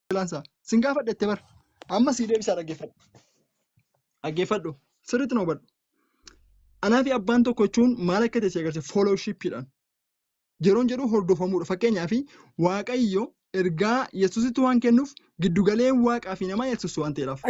lansa sin gaafadhe itti bar amma sii deebisaa dhaggeeffadhu dhaggeeffadhu sirriitti na hubadhu anaa fi abbaan tokko jechuun maal akka ta'e si agarsiisa foolowshiippiidhaan yeroon jedhu hordofamuudha fakkeenyaaf waaqayyo ergaa yesusitti waan kennuuf giddugalee waaqaa fi namaa yesus waan ta'eedhaaf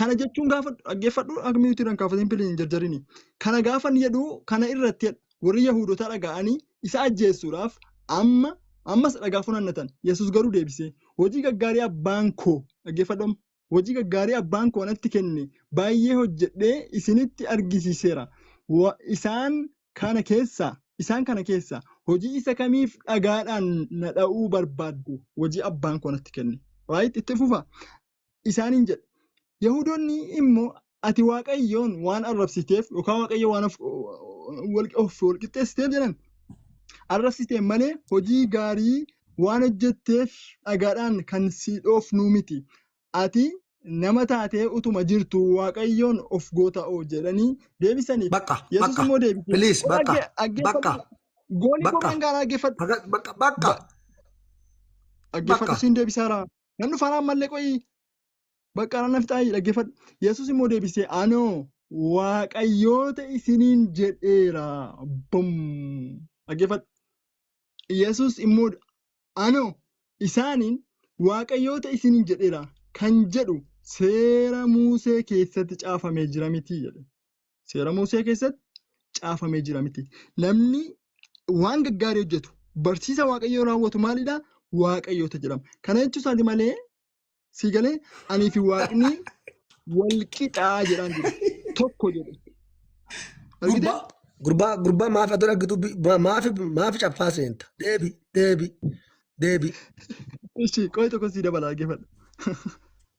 kana jechuun gaafa dhaggeeffadhu akmiitii irraan kaafatiin piliin hin jarjarini kana gaafa ni jedhu kana irratti warri yahudotaa dhaga'anii isa ajjeessuudhaaf amma ammas dhagaa funaannatan. Yesus garuu deebisee, hojii gaggaarii abbaan koo dhaggeeffadhu amma, hojii gaggaarii abbaan koo anatti kenne baay'ee hojjedhee isinitti argisiiseera. Wa- Isaan kana keessaa isaan kana keessaa hojii isa kamiif dhagaadhaan na dha'uu barbaaddu? Hojii abbaan koo anatti kenne. Right? Itti fufa. isaaniin jedhe. Yahuudonni immoo ati Waaqayyoon waan arrabsiteef yookaan Waaqayyo waan of- wal- of wal qixxeessiteef jedhan arrabsitee malee hojii gaarii waan hojjetteef dhagaadhaan kan si dhoofnuu miti. Ati nama taatee utuma jirtu Waaqayyoon of goota'oo jedhanii deebisaniif. Bakka, Yesus bakka. immoo deebisee Please, "Kun bakka, dhagge- dhaggeeffadhu. bakka, Goolii bakka. koo kan gaaraa dhaggeeffadhu. Baga- Bakka, bakka. Ba- Dhaggeeffadhu Bakka. siin deebisaara. Nan dhufa anaan mallee qo'ii. Bakka anaan nafixaa dhaggeeffadhu. Yesuus immoo deebisee anoo waaqayyoota isiniin jedheera. Bum! Dhaggeeffadhu. Yesuus immoo anoo isaaniin waaqayyoota isiniin jedheera kan jedhu seera Muusee keessatti caafamee jira miti jedhe. Seera Musee keessatti caafamee jira miti. Namni waan gaggaarii hojjetu, barsiisa Waaqayyoo raawwatu maalidha? Waaqayyoota jedhama. Kana jechuu isaati malee sii galee anii fi Waaqni wal qixaa jedhaan jiru. Tokko jedhu. Argite? Gurbaa gurbaa gurbaa maaf ati dhaggitu maaf maaf caffaa seenta. Deebi deebi deebi. Ishii qo'i tokko sii dabalaa geeffadha.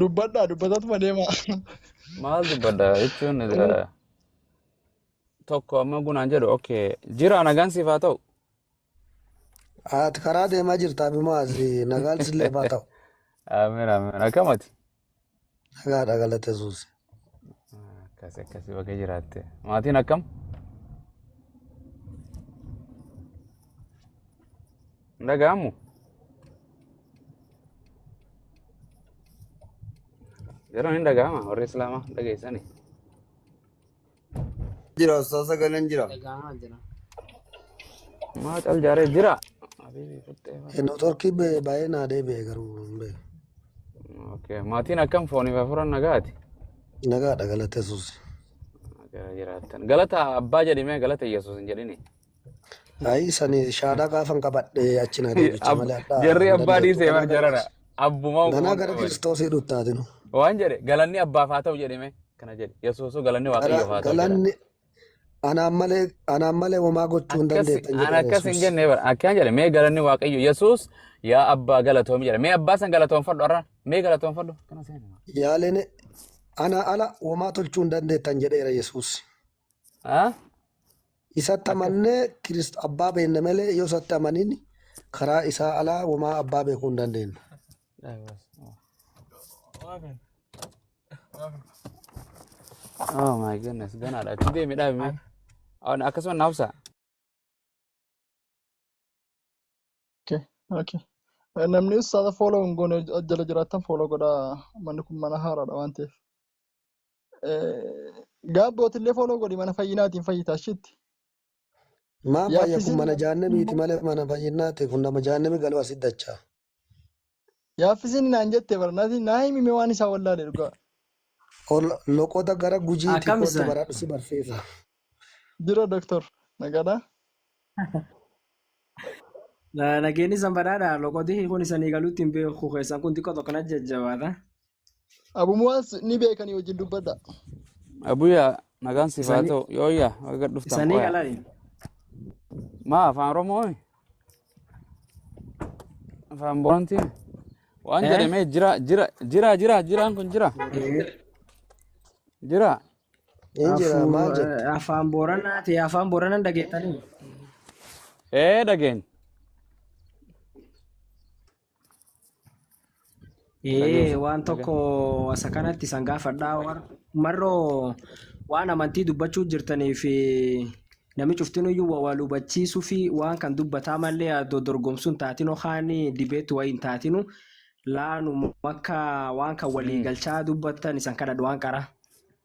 Dubbadhaa dubbatatuma deema. Maal dubbadha jechuun eh, tokko amma gunaan jedhu okay jira nagaan siif haa ta'u. Ati karaa deemaa jirta abimaas nagaan sillee baa ta'u. Amiin amiin akkamati. Nagaadha galata yesuus. Akkasi akkasi baga jiraatte. Maatiin akkam? Hin dhaga'amu? Yeroon hin dhaga'ama warri Islaamaa dhageessani. Jira osoo sagaleen jira. Dhaga'amaa jira. Maa cal jaaree jira. Habiibi futtee bara. Inni torkii ba'ee baay'ee naa deebi'e garuu hin beeku. Okay. Maatiin akkam fooniif hafuuran nagaati. Nagaadha galata yesuus. Gara jiraattan. Galata abbaa jedhime galata Yesuus hin jedhini. Ayi sani shaadhaa gaafan qabadhe achi na deebicha Ab- malee hadhaa jarri hin abbaa dandeettu. dhiisee Ganaa bar gara jarana Kiristoos- abbuma ganaa gara qabate kiristoosii dhuttaatinu. waan jedhe galanni abbaaf haa ta'u jedhime kana jedhe yesuusuu galanni Gara waaqayyoof haa ta'u jedha galanni anaan malee anaan malee homaa gochuu hin akkas dandeettan an jedhe akkas hin Yesuus. jenne bara akkana jedhe mee galanni waaqayyo yesuus yaa abbaa galatoomi jedhe mee abbaa san galatoonfadhu arra mee galatoonfadhu kana seena Yaaleen ana ala homaa tolchuu hin dandeettan jedheera Yesuus. haa Isatti amannee Kirist abbaa beenna malee yoo isatti amanin karaa isaa alaa womaa abbaa beekuu hin dandeennu. Oh my goodness, ganaadha. Itti deemi dhaabime. Akkasuma na hubsaa. Okay, okay. Eh, Namni ussata follow hin goone jala jiraattan follow godhaa. Manni kun mana haaraadha waan ta'eef. Gaabbootillee fooloo godhi mana fayyinaatiin fayyitaa shitti. Maan fayya kun Yaaffisiin mana jaannamiiti malee mana fayyinnaati kun nama jaannami galu asit dacha. yaaffisiin naan jette barnaati naa himime waan isaa wallaale dhugaa. Ol loqoda gara gujiiti Akkam kootu isaan? baradhu si barsiisa. Jira doktor nagaadhaa. Nageenyi san badhaadha. Loqotii kun isanii galuutti hin beeku keessan kun xiqqoo tokko na jajjabaata. Abu Muwaas ni beekanii wajjin dubbadha. Abuya nagaan siif haa Isanii ta'u yooyya baga dhuftan isanii qoya alali. maa afaan oromoo afaan boontiin waan Eh? jedhamee jira jira jira jira jiraan kun jira jira Hin jira Afuu maal jette? afaan booranaa ta'e afaan booranaan dhageettanii. ee dhageen Ee waan tokko asa kanatti isan gaafadhaa war- marroo waan amantii dubbachuu jirtaniif eh, nami cuftin iyyuu wa- wal hubachiisuu fi waan kan dubbataa malee adoo dorgomsuun taatinu kaan dibeetti wayii hin taatinu laanu akka waan kan walii galchaa dubbattan isan kadhadhu waan qara.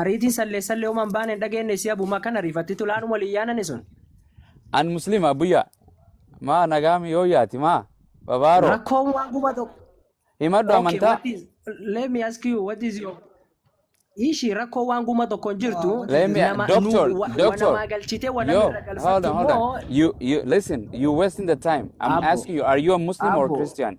Ariitii sallee sallee uumaan baane hin dhageenye si abuma kan ariifatti tulaan walii yaanani sun. An Muslim Abuyyaa. Maa nagaami yoo yaati maa. Babaaroo. Rakkoon waan guma tokko. Himadhu Okay, amantaa. what is, let me ask you, what is your ishi rakkoo waan guma tokko hin jirtu Let me, nama doctor, nu- wa- doctor. wanamaa galchite wana Yo, irra hold galfattu on, hold immoo on. You, you, listen, you're wasting the time. I'm Abu. asking you, are you a Muslim or Abu. Christian?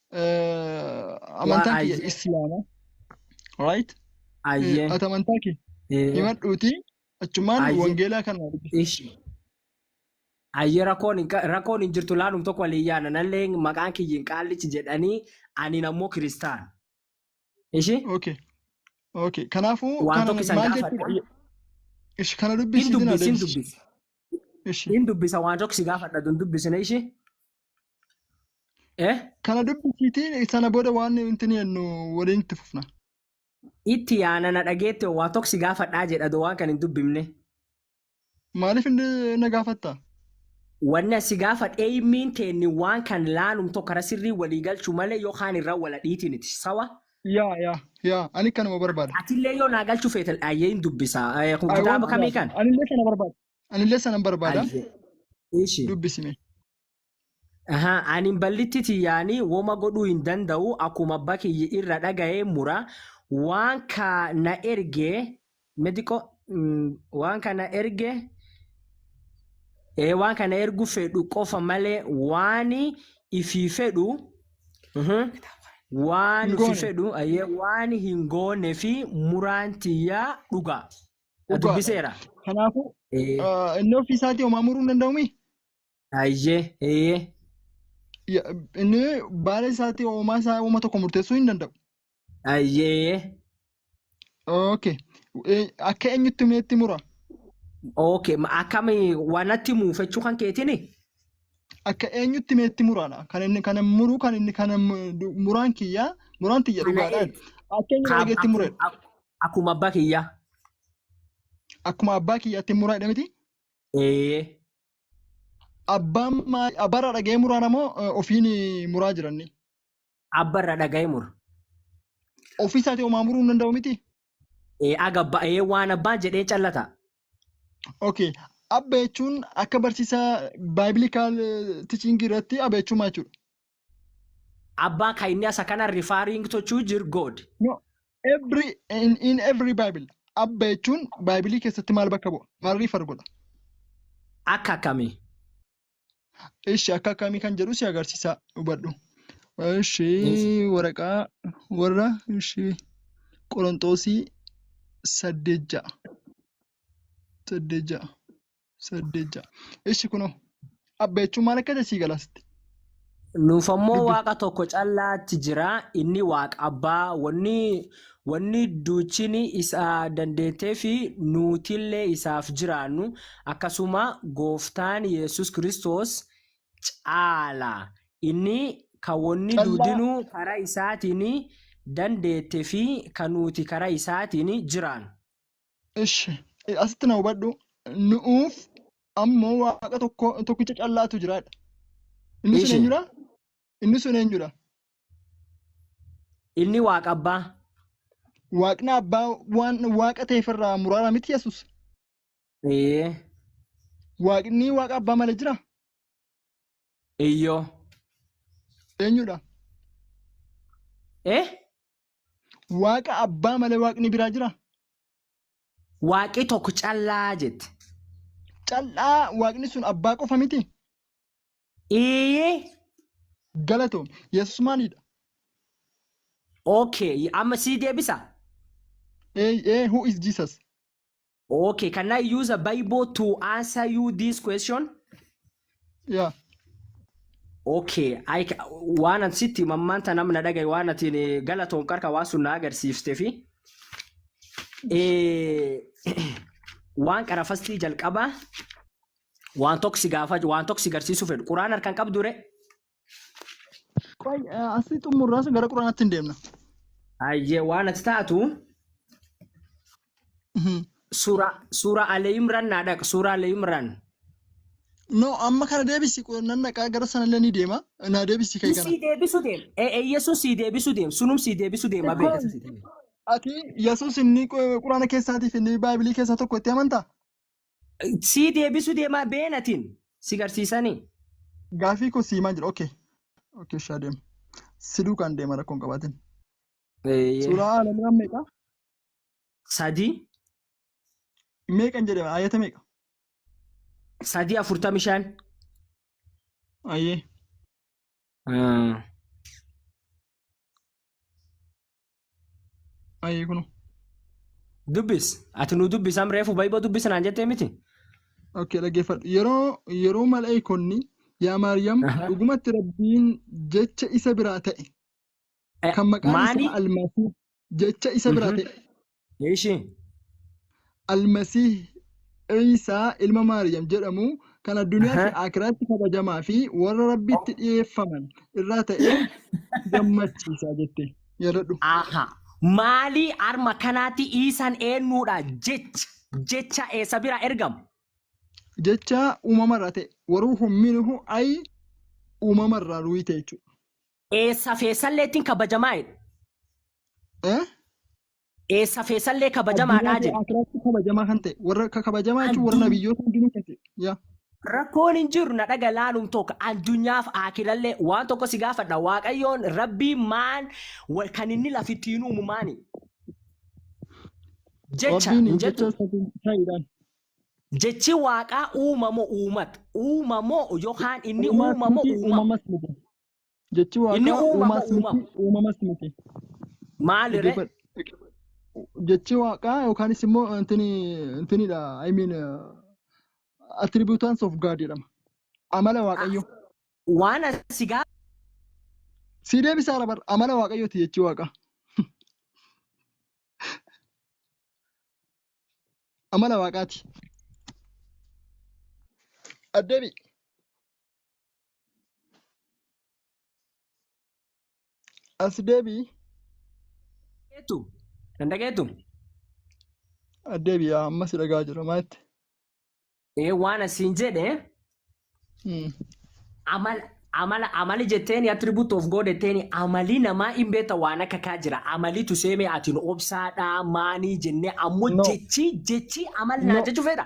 Waa amantaan kiyya ayyee islaama right ayyee ati amantaa kee ee, himadhuuti achumaan ayyee wangeelaa kana dubbisi ish ayyee rakkoon hin qa- rakkoon hin jirtu laanum tokko walii yaana nallee maqaan kiyyin qaallichi jedhanii anin ammoo kiristaan Ishi Okay. Okay. Kanaafuu waan kana tokko isan maal gaafadha. jechuudha? Ishi kana Hin dubbisiisin dubbisi, hin adeemsisi. dubbisi. Ishi Hin dubbisa waan tokko si gaafadha tun dubbisina ishi. Eh? kana dubbisiitiin sana booda waan nuti jennu waliin itti fufna. Itti yaana na dhageette waan tokko si gaafadhaa jedha doo waan kan hin dubbifne. Maaliif inni na gaafatta? Wanna si gaafadh eeymiin teenni waan kan laanum tokko irra sirrii walii galchu malee yoo kaan irra wala dhiitiniti. Sawa? Yaa yaa yaa ani kanuma barbaada. Atillee yoo naa galchu feetel ayyee hin dubbisa. Eh, Kun I want kitaaba kamii that. kan? Anillee sana barbaada. Anillee sanan barbaada. Ayyee. Ishi. Dubbisi mee. Ahaa, ani ballitti tiyyaanii woma godhuu hin danda'u akkuma abba kiyya irra dhaga'ee mura waan ka na erge mediqo mm, waan ka na erge ee waan ka na ergu fedhu qofa malee waan ifii fedhu mhm, waan Hin ufi goone. fedhu ayyee waan hin goone fi muraan tiyyaa dhugaa na Dhugaadha. dubbiseera. Kanaafuu Ee. ah, inni ofii isaatii homaa muruu hin danda'umii? Hayyee, eeyyee. Ya- Inni baala isaatti uumaa isaa uuma tokko murteessuu hin danda'u. Hayyee, eeyyee. Okay. Eh, Akka eenyutti meetti mura? Okay, ma- akkami wanatti muufachuu kan keetini? Akka eenyutti meetti muraadha. Kan inni kana muruu kan inni kana mu- du- muraan kiyyaa muraan tiyya Kana dhugaadhaan. Akka eenyu Ka- dhageetti mure. akkum- ak- Akkuma abbaa kiyyaa. Akkuma abbaa kiyyaatti muraadha miti. Eeyyee. Abbaan maal- abbaarraa dhaga'ee muraana moo eh, ofiin eh, muraa jiranni? Abbarra dhaga'ee mura. Ofii isaatii homaa muruu hin danda'u miti? Ee, Aga abba- ee, waan abbaan jedhee callata. Okay. Abba jechuun akka barsiisaa baayiblikal tichiingii irratti abba jechuun maal jechuudha? Abba kainya sakana referring to choose your God. No. Every, in, in every Bible. Abba jechuun Baaybilii keessatti maal bakka bu'a? Maal riifar godha? Akka akkamii? Ishi akka akkamii kan jedhu si agarsiisaa hubadhu. Ishi Yes. waraqaa warra ishi Qoronxoosii saddeet ja'a. Saddeet ja'a. saddeet ja'a. Ishi kunoo abba jechuun maal akka ta'e sii galaasitti. Nuuf ammoo Dubbi. waaqa tokko callaatti jira inni waaqa abbaa wanni wanni duuchini isa dandeettee fi nuutillee isaaf jiraannu akkasuma gooftaan Yesus Kiristoos caala inni kan wanni Callaa. duudinuu karaa isaatiin dandeette fi kan nuuti karaa isaatiin jiraannu. Ishi, asitti na hubadhu. Nu'uuf ammoo waaqa tokko tokkicha callaatu jiraadha. Inni sun Ishi. eenyudha? Inni sun eenyudha? Inni waaqa abbaa. Waaqni abbaa waan waaqa ta'eef irraa muraara miti Yesuus. Ee. Waaqni waaqa abbaa malee jira? Iyyoo. Eenyudha? Eh? Waaqa abbaa malee waaqni biraa jira? Waaqi tokko callaa jette. Cal'aa waaqni sun abbaa qofa miti? Iyyee Galatoom. Yesus maalidha? okay amma sii deebisa. Ee, ee, who is Jesus? Okay, can I use a Bible to answer you this question? Yeah. Okay, I ca- waan ati sitti mammaanta namna dhagaye waan atiin eh, galatoom qarka waan sun na agarsiifte fi eh, waan qarafastii jalqabaa waan tokko si gaafa waan tokko si garsiisuu fedhu quraan harkaan qabdu re Qoy asii xumurraas gara quraanaatti hin deemna. Hayyee waan ati taatu Mhm. suuraa suuraa Alee Imraan naa dhaq suuraa Alee Imraan. No amma kana deebisi nan dhaqaa gara sanallee ni deema naa deebisi kee kana. Sii deebisu deem. Ee ee Yesuus sii deebisu deem. Sunum sii deebisu deem abee. Qoy ati Yesuus inni qu- quraana keessaatiif inni baaybilii keessaa tokko itti amantaa? Sii deebisu deemaa beenatiin si garsiisanii. Gaafii koo siimaa jira. Okay. Okay shaa deema. Si duukaan deema rakkoo hin qabaatin. Suuraa Aalamiraan meeqa? Sadii. Meeqan jedhama? Ayata meeqa? Sadii afurtamii shan. Ayyee. Ayii kuno. Dubbis. Ati nu dubbisam reefu baay'ee dubbisa naan jettee miti. Okay dhaggeeffadhu. Yeroo yeroo malaa'ikonni yaa Maariyaam Aha. dhugumatti Rabbiin jecha isa biraa ta'e Eh, kan maqaan Maali? isaa Almaasii jecha isa biraa Mhm. ta'e Ishii. Al-Masiih Iisaa ilma Maariyam jedhamu kan addunyaa Aha. fi aakiraatti kabajamaa fi warra Rabbitti dhiyeeffaman irraa ta'e gammachiisa jette. Yaadadhu. Aha. Maalii arma kanaatti Iisaan eennuudha jecha jecha eessa bira ergamu? Jecha uumamarraa ta'e. Waruuhu minhu ay uumamarraa ruuhii ta'e jechuudha. Eessa fi eessalleettiin kabajamaa jedhu. Eh? Eessa feesallee kabajamaadhaa jedhe. Akiraatti kabajamaa kan ta'e warra akka kabajamaa jechuun warra nabiyyoota hundinuu kan ta'e. Yaa. Rakkoon hin jiru na dhaga laaluun tokko addunyaaf akirallee waan tokko si gaafadha waaqayyoon rabbii maan wa- kan inni lafittiin uumu maani jecha Rabbiin hin jettu jecha isatiin ta'edhaan. jechi waaqaa uumamoo uumat uumamoo yookaan inni uumamoo Uumaas miti uumama uumamas miti. Jechi Inni waaqaa uumama uumaas miti, uumama. uumamas miti. Maali ree? Dhaggeeffadhu. Jechi waaqaa yookaanis immoo intini intinidha. I mean uh, attributants of God jedhama. Amala waaqayyoo. Waan asi gaa Si deebisaa labar amala waaqayyooti jechi waaqaa. Amala waaqaati. Addeebi. As deebii. Dhageettu. Kan dhageettu. As deebii yaa ammas dhagaa jira maa jettee? Ee waan asiin jedhe Hmm. amala amala amali jetteeni attribute of God jetteeni amali namaa hin beekta waan akka kaa jira amalitu seemee atiin obsaadhaa maanii jennee ammoo No. jechi jechi amal naa No. jechu fedha.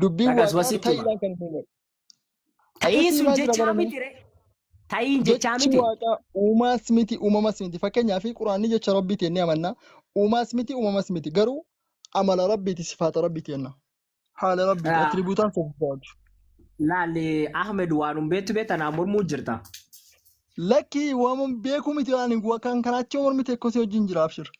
Dubbiin Dhagaas waaqaa wasitti hima. ta'iidhaan kan hin uumamne. Ta'iin Akkasii sun maal jira jechaa garame? miti re. Ta'iin jechaa Jechi miti. waaqaa uumaas miti uumamas miti. Fakkeenyaaf quraanni jecha rabbiiti jennee amanna. Uumaas miti uumamas miti. Garuu amala rabbiiti sifaata rabbiiti jenna. Haala rabbiiti Ah, atiribuutaan sifaatu. Laalli Ahmed waan hin beektu beekta naa mormuu jirta. Lakkii waan beekuu miti waan hin kan kanaachi mormite kosii wajjin jira abshir.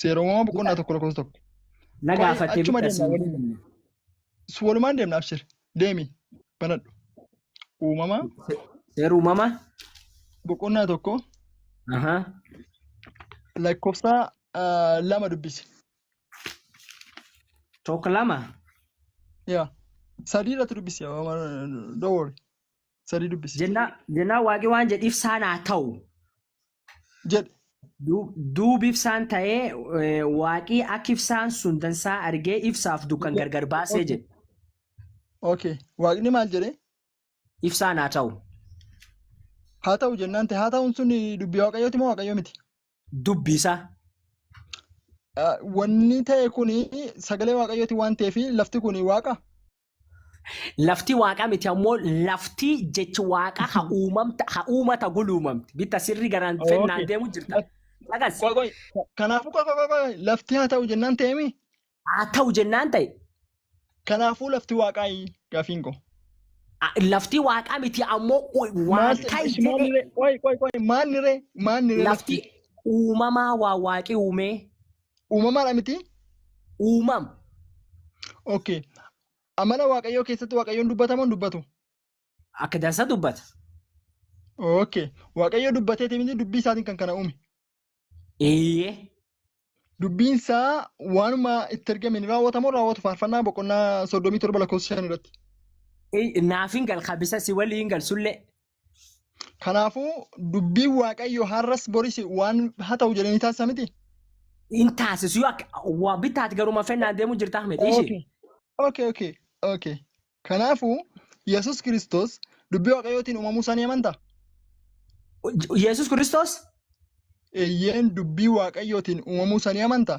Seera uumamaa boqonnaa tokko lakkoofsa tokko. Na Kori gaafattee achuma bitta deemna siin waliin. jenne. Su walumaan deemna abshir. Deemi. Banadhu. Uumama Se- Seera uumama. boqonnaa tokko Aha. lakkoofsa ah, lama dubbisi. Tokko lama. Yaa. Sadii irratti dubbisi. Dowori. Sadii dubbisi. Jennaa jennaa waaqi waan jedhiif saan haa ta'u. jedhe. Duub- Duub ibsaan ta'ee eh, waaqii akka ibsaan sun dansaa argee ibsaaf dukkan Okay. gargar baasee Okay. jedhe. Okay. Waaqni maal jedhe? Ibsaan haa ta'u. Haa ta'u jennaan ta'e haa ta'uun sun dubbii waaqayyooti moo waaqayyo miti? Dubbi isaa. Ah, Wanni ta'e kun sagalee waaqayyooti waan ta'eef lafti kun waaqa. Lafti waaqa miti ammoo lafti jechi waaqa ha uumamta ha uumata guluumamti. Bitta sirri garaan Okay. fennaan deemu jirta. Dhagas Qoy qoy. Kanaafuu qoy qoy qoy lafti haa ta'u jennaan ta'eemi. haa ta'u jennaan ta'e Kanaafuu lafti waaqaa gaafiin koo. a- lafti waaqa miti ammoo u- Maal waan ta'e ta'e maal jedhee ree qoy qoy qoy maal ree maal ree lafti lafti. uumamaa waa waaqi uumee Uumamaadha miti? uumam Okay. Amala Waaqayyoo keessatti Waaqayyoon dubbatamoo hin dubbatu? akka dansa dubbata. Okay. Waaqayyo dubbateeti miti dubbii isaatiin kan kana uume. Eeyyee Dubbiin isaa waanuma itti ergame ni raawwatamoo raawwatu faarfannaa boqonnaa soddomii torba lakkoofsa shan irratti. Ey, naaf hin gal kabisa si waliin gal sullee Kanaafuu dubbiin Waaqayyo har'as boris waan haa ta'u jedhanii taasisa miti. Hin taasisu yoo akka waa bitaati garuma fennaan deemu jirtaa miti ishee. Okay. Okay, okay, okay. Kanaafuu Yesus Kiristoos dubbii Waaqayyootiin uumamuu isaa ni amantaa? Yesus Kiristoos Eeyyeen dubbii Waaqayyootiin uumamuu isaa ni amantaa?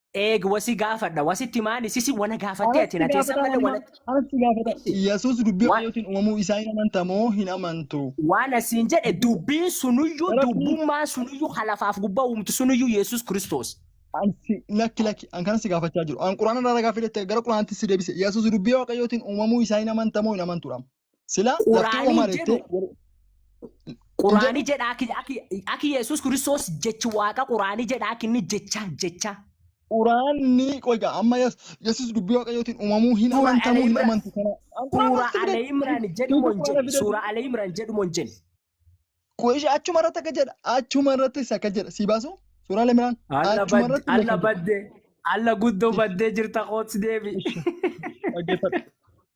Eeg wasi gaafadha wasitti maali sisi wana gaafattee ati Anatti na teessan gaafataa malee amma wanatti anatti gaafataa. Isi Yesuus dubbii waan Waaqayyootiin uumamuu isaa hin amanta moo hin amantu? waan asiin jedhe Dubbii dubbiin sunuyyuu Rabbii dubbummaan sunuyyuu ka lafaaf gubbaa uumtu sunuyyuu Yesuus Kiristoos. an si lakki lakki an kana si gaafachaa jiru. An quraana irraa ragaa fidhette gara quraanaatti si deebise. Yesuus dubbii Waaqayyootiin uumamuu isaa hin amanta moo hin amantuudhaam? Sila lafti Quraanii Omar jedhu itti hin Quraanii jedhu jedha aki aki aki Yesuus Kiristoos jechi waaqa Quraanii jedha aki inni jecha jecha Quraanni qoyga amma yes Yesuus dubbii waaqayyootiin uumamuu hin suura amantamu hin Al-Imran amantu kana an Quraan suura walitti fide Al-Imran jedhu hiika mon Quraana jedhe fide suura Al-Imran jedhu mon jedhe qoyisha achuma irratti akka jedha achuma irratti isa akka jedha sii baasu suura Al-Imraan alla achuma badde irratti alla lakka jedha badde alla guddoo baddee jirta kootsi deebi ishi dhaggeeffadha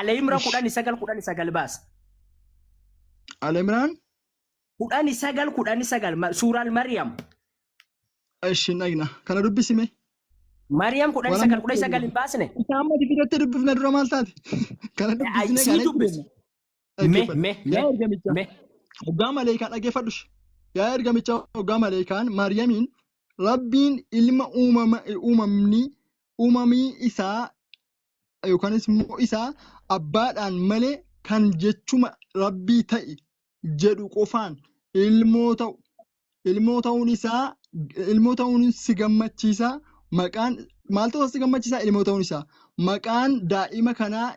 Alayimra Ish. kudhani sagal kudhani sagal baasa. Alimraan Kudhani sagal kudhani sagal ma- suuraan Mariyam. ishin dhagna kana dubbisime. Mariyam kudhani Waan sagal amma kudhani sagal hin baasne. Isaan mati biratti dubbifna dura maal taate? Kana dubbisne Sii kana dubbise. Me, dhaggeeffadhu. me, me, Yaa ergamichaa, me. hoggaa maleekaa dhaggeeffadhu. Yaa ergamichaa, hoggaa maleekaan Maariyamiin Rabbiin ilma uumama, uumamni, uumamii isaa yookanis immoo isaa abbaadhaan malee kan jechuma Rabbii ta'i jedhu qofaan ilmoo ta'u ilmoo ta'uun isaa ilmoo ta'uun si gammachiisa maqaan maaltu si gammachiisa ilmoo ta'uun isaa maqaan daa'ima kanaa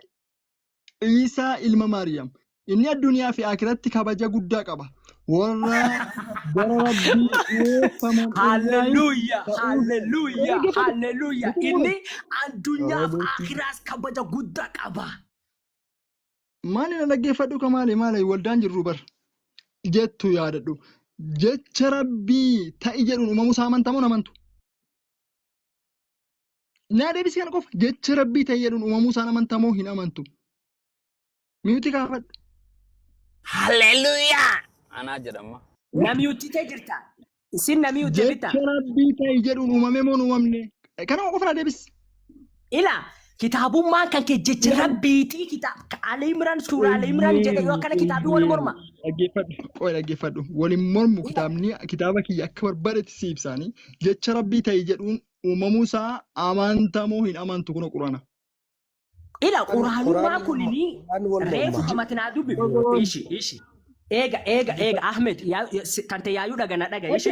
Iisaa ilma Maariyaam. Inni addunyaa fi akiratti kabaja guddaa qaba. Warra gara Rabbii dhiyeeffaman irraa Hallelujah, ta'uu hallelujah, Dhaggeeffadhu. hallelujah. Dhaggeeffadhu. Inni addunyaaf Hallelujah. akiraas kabaja guddaa qaba. maali na dhaggeeffadhu ka maali maali waldaan jirru bar jettu yaadadhu jecha rabbii ta'i jedhuun uumamuu isaa amantamoo hin amantu Naa deebisii kana qofa jecha rabbii ta'e jedhuun uumamuu isaan amantaa moo hin amantu? Miyuutii kaafadhu. Hallelujah! Anaa jedhama. Namiyutti ta'e jirta. Isin namiyutti bitta. Jecha rabbii ta'e jedhuun uumamee moo hin uumamne? Kanuma qofa naa deebisi. Ila kitaabummaan kan kee jecha Ilaali. rabbiitii kitaab Ali Imran suuraa Ali Imran jedhe yoo akkana kitaabii wal morma. Dhaggeeffadhu. Qoy dhaggeeffadhu. Waliin mormu kitaabni kitaaba kiyya akka barbaadetti si ibsaanii jecha rabbii ta'e jedhuun uumamuu isaa amantamoo hin amantu kun qurana. Ila quraanummaa kunini reefu kamati naa dubbi ishi ishi eega eega eega Ahmed tante yaayuu dhaga na dhaga ishi